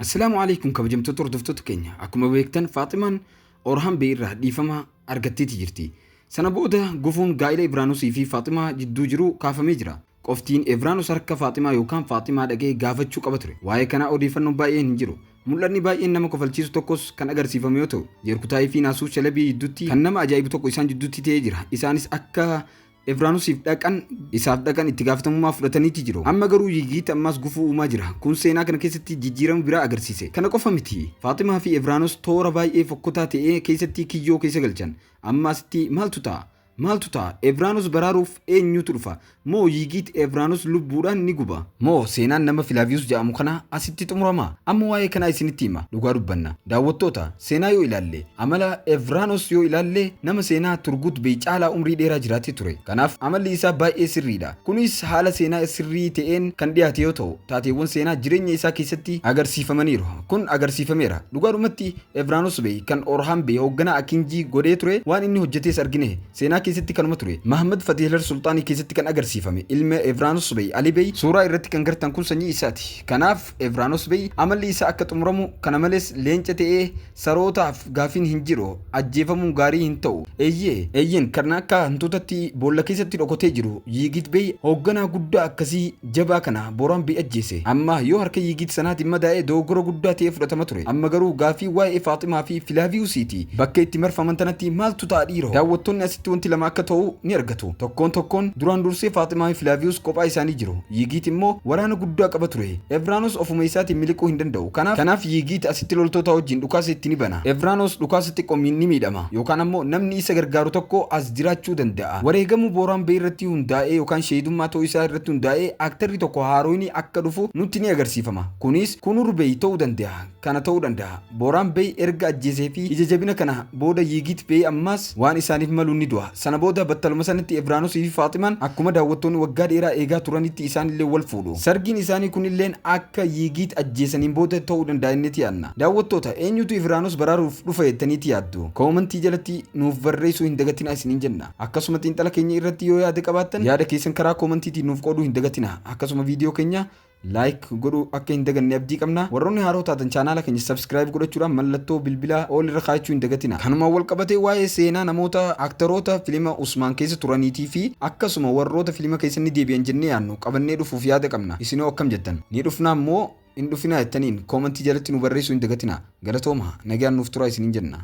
Assalaamu alaikum kabajamtoota hordoftoota keenya akkuma beektan Faaximaan Orhaan Bee irraa dhiifama argatteeti jirti. Sana booda gufuun gaa'ila Ibraanusii fi Faaximaa jidduu jiru kaafamee jira. Qoftiin Ibraanus harka Faaximaa yookaan Faaximaa dhaqee gaafachuu qaba ture. Waa'ee kanaa odeeffannoon baay'een hin jiru. Mul'anni baay'een nama kofalchiisu tokkos kan agarsiifame yoo ta'u, Jeerkutaayii fi Naasuu Shalabii jidduutti kan nama ajaa'ibu tokko isaan jidduutti ta'ee jira. Isaanis akka Evraanosiif dhaqan isaaf dhaqan itti gaafatamummaa fudhataniiti jiru. Amma garuu Yigiit ammaas gufuu uumaa jira. Kun seenaa kana keessatti jijjiirama biraa agarsiise. Kana qofa miti. Faatimaa fi Evraanos toora baay'ee fokkotaa ta'ee keessatti kiyyoo keessa galchan. Amma asitti maaltu ta'a? Maaltu ta'a? Evraanos baraaruuf eenyutu dhufa? Moo Yigiit Evraanos lubbuudhaan ni guba? Moo seenaan nama Filaaviyus jedhamu kana asitti xumurama? Amma waa'ee kanaa isinitti hima. Dhugaa dubbanna. Daawwattoota, Seenaa yoo ilaalle, amala Evraanos yoo ilaalle nama seenaa Turgut Bey caalaa umrii dheeraa jiraate ture. Kanaaf amalli isaa baay'ee sirriidha. Kunis haala seenaa sirrii ta'een kan dhiyaate yoo ta'u, taateewwan seenaa jireenya isaa keessatti agarsiifamaniiru. Kun agarsiifameera. Dhugaadhumatti Evraanos Bey kan Orhan Bey hoogganaa Akinjii godhee ture, waan inni hojjetees argine. Seenaa keessatti kanuma ture. Mahmad Fatihler Sulxaanii keessatti kan agarsiifame ilma Evraanos Bey, Ali Bey, suuraa irratti kan gartan kun sanyii isaati. Kanaaf Evraanoos Bey amalli isaa akka xumuramu kana malees leenca ta'ee sarootaaf gaafiin hin jiru ajjeefamuun gaarii hin ta'u eeyyee eeyyeen kan akka hantuutatti boolla keessatti dhokotee jiru Yiigit Bey hoogganaa guddaa akkasii jabaa kana Booraan Bey ajjeese amma yoo harka Yiigit sanaatiin madaa'e dogoggora guddaa ta'ee fudhatama ture amma garuu gaafii waa'ee Faaximaa fi Filaaviyuusiiti bakka itti marfaman tanatti maaltu ta'a dhiiroo daawwattoonni asitti wanti lama akka ta'u ni argatu. Tokkoon tokkoon duraan dursee Faaximaa fi Filaaviyus kophaa isaanii jiru. Yiigiit immoo waraana guddaa qaba ture. Evraanoos ofuma isaatiin miliquu hin danda'u. Kanaaf, kanaaf Yiigiit asitti loltootaa wajjin dhukaasa itti ni bana. Evraanoos dhukaasa xiqqo miin ni miidhama. Yookaan ammoo namni isa gargaaru tokko as jiraachuu danda'a. Wareegamuu Booraan Bey irratti hundaa'ee yookaan sheehidummaa ta'uu isaa irratti hundaa'ee aktarri tokko haaroyni akka dhufu nutti ni agarsiifama. Kunis Kunur Bey ta'uu danda'a. kana ta'uu danda'a. Booraan Bey erga ajjeesee fi ija jabina kana booda Yiigiit Bey ammaas waan isaaniif maluun ni du'a. Sana booda battaluma sanatti Evraanosii fi Faaximaan akkuma daawwattoonni waggaa dheeraa eegaa turanitti isaan illee wal fuudhu. Sargiin isaanii kun illeen akka Yiigiit ajjeesaniin booda ta'uu danda'a jenneeti yaadna. Daawwattoota, eenyutu Evraanos baraaruuf dhufa jettaniiti yaaddu? Koomantii jalatti nuuf barreessuu hin dagatinaa isiniin jenna. Akkasuma xiinxala keenya irratti yoo yaada qabaattan yaada keessan karaa koomantiitiin nuuf qooduu hin dagatinaa. Akkasuma viidiyoo keenya Like godhuu akka hin daganne abdii qabna. Warroonni haaroo taatan chaanaala keenya subscribe godhachuudhaan mallattoo bilbilaa all irra kaayachuu hin dagatina. Kanumaan wal qabatee waa'ee seenaa namoota aktaroota filima Usmaan keessa turaniitii fi akkasuma warroota filima keessa ni deebi'an jennee yaadnu qabannee dhufuuf yaada qabna. Isinoo akkam jettan? Ni dhufnaa moo hin dhufinaa jettaniin comment jalatti nu barreessuu hin dagatinaa. Galatoomaa! Nagaan nuuf turaa isiniin jenna.